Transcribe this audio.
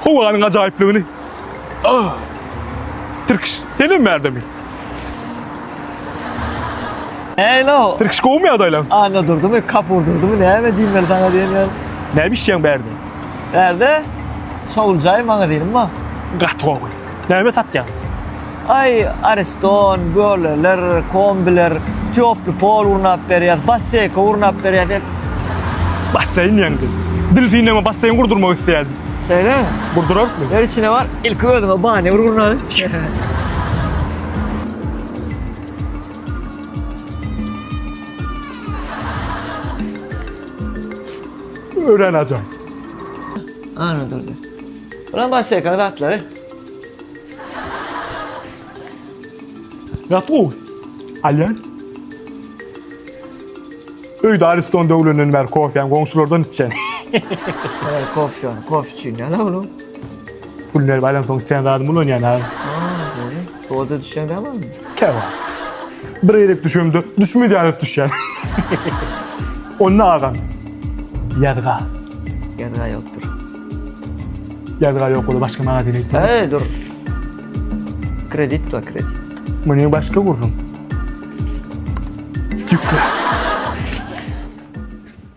Howanyň ajaýyplygyny. Ah! Tirkiş, senem bärde mi? Hello. Tirkiş gowmy ýagdaýlaň? Anda durdumy, kap urdurdumy, näme diýmeli saňa diýen ýaly. Näme işleýäň bärde? Bärde şowuljaý magazinim bar. Gaty gowy. Näme satýaň? Aý, ariston, göleler, kombiler, týoply pol gurnap berýäs, basseyka gurnap berýäs, et. Basseýn ýaňky. Dilfindeme basseýn gurdurmak isleýärdim. Şeýlemi? Gurdurarsyň. Ýör içine bar, ilki özüňe bany bir gurnaly. Örän ajaýyp. Ana durdy. Buna başlaýkaň zatlary. Ýat gowy. Alýan. Öýde Ariston döwlenden bäri kofýany goňşulardan içýän. Eee, kofýany, kofe üçin ýa-da onuň. Pul berip alýan soň sen zadymy ulanýan ha. Aa, göri. Soda düşýän däl onuň. Kebap. Bir gerek düşemde, düşmez ýaly düşýän. Onda agam. Ýazga. Ýazga ýokdur. Ýazga ýok ola başga magazin aýt. Äý dur. Kredit wa kredit. Muny başga gurrun. Ýükle.